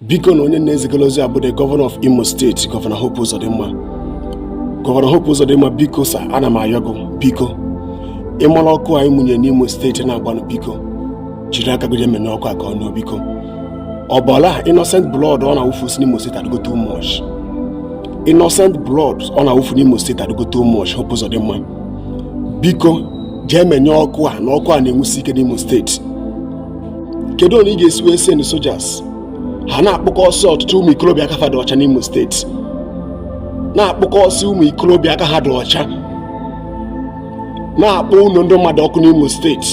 biko na onye m na-ezigara ozi a bụ the gọvanọ of imo steeti gọvanọ hope ụzọdịmma gọvanọ hope ụzọdịmma biko sa ana m ayọ gị biko ịmara ọkụ a ị mụnyere n'imo steeti na-agbanụ biko jiri aka gị menyụọ ọkụ a ka ọ nyụọ biko ọbara innocent blood ọ na-awụfusi n'imo steeti adịgo too much innocent blood ọ na-awụfu n'imo steeti adịgo too much hope ụzọdịmma biko jee menyụọ ọkụ a na ọkụ a na-enwusi ike n'imo steeti kedu onye ị ga-esi wee send sojas ha na-akpụkọsị ọtụtụ ụmụ ikorobịa aka fa dụ ọcha n'Imo steeti na-akpụkọsị ụmụ ikorobịa aka ha dị ọcha na-akpọ ụlọ ndị mmadụ ọkụ n'Imo steeti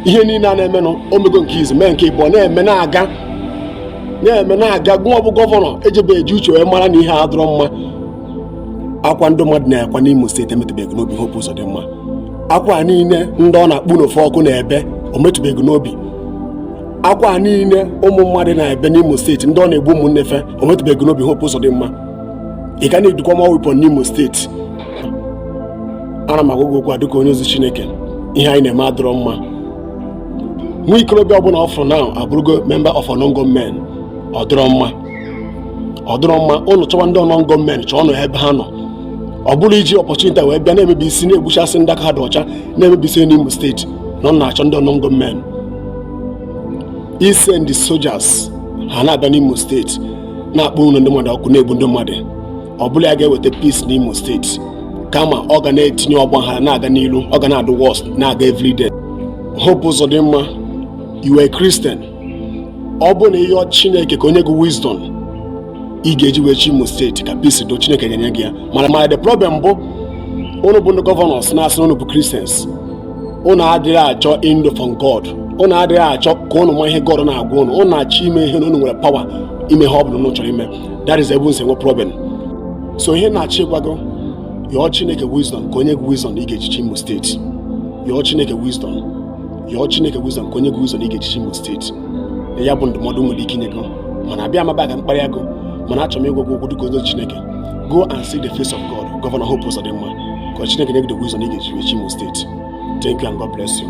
ihe niile a na-emenụ o mego nke izizi mee nke ịbụọ na-eme na-aga gụwa bụ gọvanọ ejibeghị uche wee mara na ihe a adịrọ mma akwa ndị mmadụ na-akwa n'Imo steeti emetụbeghị n'obi hope ụzọdịmma akwa niile ndị ọ na-akpọ ụnọ fe ọkụ na-ebe o metụbeghị n'obi akwa niile ụmụ mmadụ na-ebe n'Imo steeti ndị ọ na-egbu ụmụnne fe o metụbeghị n'obi Hope Uzodimma ị ka na-edukwa ma weapon n'Imo steeti ana m agwa gị okwu a dịka onye ozi Chineke ihe a ị na-eme adịrọ mma nwa ikorobịa ọbụla ọ fụrụ na abụrụgo memba of unknown gunmen ọ dịrọ mma ọ dịrọ mma ụnụ chọwa ndị unknown gunmen chọọnụ ebe ha nọ ọ bụrọ iji opportunity a wee bịa na-emebisi na-egbuchasị ndị aka ha dị ọcha na-emebisi n'Imo steeti na ụnụ na-achọ ndị unknown gunmen ị send sojas ha na-abịa n'Imo steeti na-akpọ ụlọ ndị mmadụ ọkụ na-egbu ndị mmadụ ọ bụrọ ya ga-eweta peace n'Imo steeti kama ọ ga na-etinye ọgbaghara na-aga n'ilu ọ ga na-adụ worse na-aga everyday hope ụzọdịmma you are a kristian ọ bụ na ị yọọ chineke ka o nye gị wisdom ị ga-eji wee chị imo steeti ka peace dị chineke ga-enye gị ya mana the problem bụ unu bụ ndị gọvanọs na-asị na unu bụ kristians unu adịghị achọ ndu from god unu adịghị achọ ka unu ma ihe god na-agwa unu unu na-achọ ime ihe na unu nwere pawa ime ihe ọ bụla unu chọrọ ime that is ebe unu si enwe problem so ihe m na-achọ ịgwa gị yọọ chineke wisdom ka o nye gị wisdom ị ga-eji chị imo steeti yọọ chineke wisdom yọọ Chineke Wisdom ka o nye gị Wisdom ị ga-eji chị Imo steeti ya bụ ndụmọdụ m nwere ike inye gị mana abịarọ m ebe a ka m kparịa gị mana achọrọ m ịgwa gị okwu dịka onye ozi Chineke go and see the face of God Gọvanọ Hope Uzodinma ka Chineke nye gị the Wisdom ị ga-eji chị Imo steeti thank you and God bless you